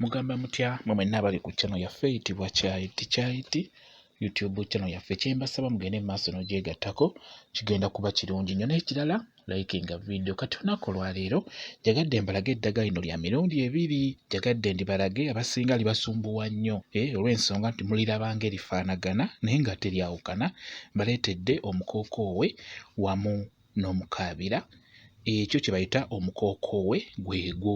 Mugamba mutya mwe mwenna abali ku channel yaffe eyitibwa Kyayiti Kyayiti YouTube channel yaffe. Kye mbasaba mugende mu maaso n'ogyegattako, kigenda kuba kirungi nnyo. N'ekirala likinga vidiyo. Kati olunaku olwaleero njagadde mbalage eddagala lino lya mirundi ebiri. Njagadde ndibalage abasinga libasumbuwa nnyo eh, olw'ensonga nti mulirabanga erifaanagana naye nga teryawukana. Mbaleetedde omukookoowe wamu n'omukaabira. Ekyo kye bayita omukookoowe gwegwo.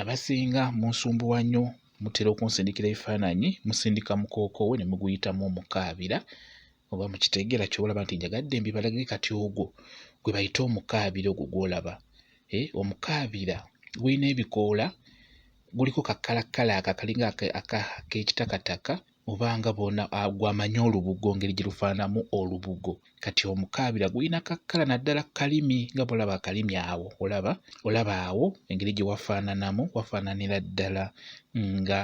Abasinga munsumbuwa nnyo mutera okunsindikira ebifaananyi musindika mukookowe ne muguyitamu omukaabira oba mukitegeera kyoba olaba nti njagadde mbibalage kati ogwo gwe bayita omukaabira ogwo gw'olaba eh, omukaabira gulina ebikoola guliko kakkalakkala ako akalinga ak'ekitakataka oba nga bona ah, gwamanyi olubugo ngeri gye lufaananamu olubugo kati omukaabira gulina kakkala naddala kalimi nga bwolaba akalimi awo olaba olaba awo engeri gye wafaananamu wafaananira ddala nga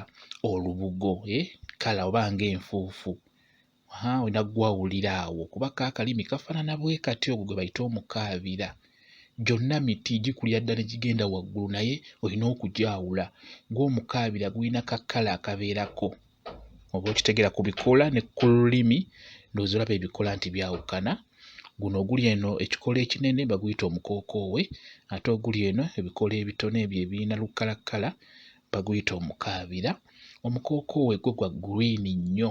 olubugo e eh, kala oba nga enfuufu olina gwawulira awo kuba kaakalimi kafaanana bwe kati ogwo gwe bayita omukaabira gyonna miti gikulira ddala ne gigenda waggulu naye olina okugyawula ng'omukaabira gulina ka kkala akabeerako oba okitegeera ku bikoola ne ku lulimi ndowooza olaba ebikoola nti byawukana guno oguli eno ekikoola ekinene baguyita omukookoowe ate oguli eno ebikoola ebitono ebyo ebirina lukkalakkala baguyita omukaabira omukookoowe gwo gwa gguliini nnyo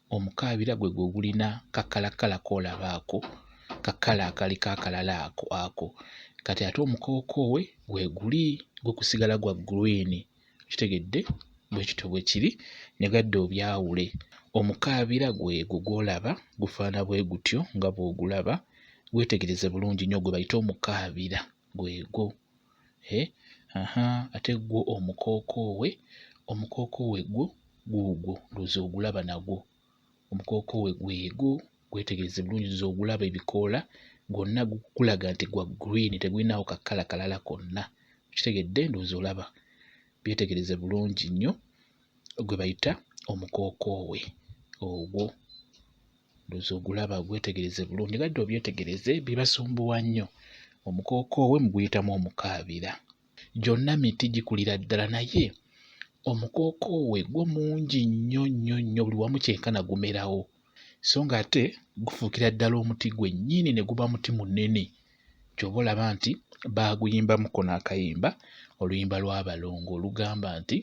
omukaabira gwe gwe gulina kakalakala kolaba ako kakala akaliko akalala ako ako kati ate omukookoowe gweguli gwe kusigala gwa green kitegedde bwekityo bwekiri ne gadda obyawule omukaabira gwegwo gwolaba gufaana bwe gutyo nga bwogulaba gwetegereze bulungi nnyo gwe bayite omukaabira gwegwo eh, aha ate gwo omukookoowe omukookoowe gwo guugwo ndowooza ogulaba nagwo omukookoowe gwego gwetegereze bulungi ndowooza ogulaba ebikoola gwonna gukulaga nti gwa green tegulinawo ka kkala kalala konna okitegedde ndowooza olaba byetegereze bulungi nnyo gwe bayita omukookoowe ogwo. Looza ogulaba ogwetegereze bulungi nga dda obyetegereze bibasumbuwa nnyo omukookoowe mu guyitamu omukaabira. Gyonna miti gikulira ddala naye omukookoowe gwo mungi nnyo nnyo nnyo buli wamu kyenkana gumerawo so ng'ate gufuukira ddala omuti gwennyini ne guba muti munene Ky'ova olaba nti baaguyimbamu ko n'akayimba, oluyimba lw'abalongo olugamba nti,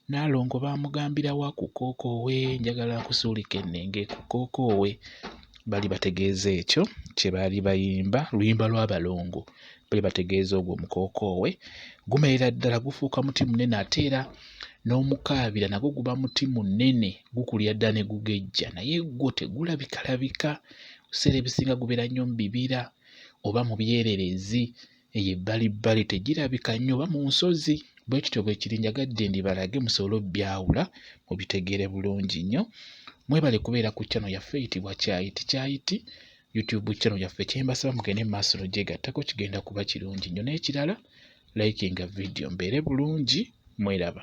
Nnaalongo baamugambira wa ku kookoowe, njagala nkusuulike nnenge ku kookoowe. Baali bategeeza ekyo kye baali bayimba, luyimba lw'abalongo. Baali bategeeza ogwo omukookoowe gumerera ddala gufuuka muti munene ate era n'omukaabira nagwo guba muti munene gukulira ddala ne gugejja naye gwo tegulabikalabika ebiseera ebisinga gubeera nnyo mu bibira oba mu byerereezi eyo ebbali bbali tegirabika nnyo oba mu nsozi bwe kityo bwe kiri njagadde ndibalage musobole obyawula mubitegeere bulungi nnyo mwebale kubeera ku channel yaffe eyitibwa kyayiti kyayiti youtube channel yaffe kyembasaba mugende mu maaso nogyegattako kigenda kuba kirungi nnyo n'ekirala likinga video mbeere bulungi mweraba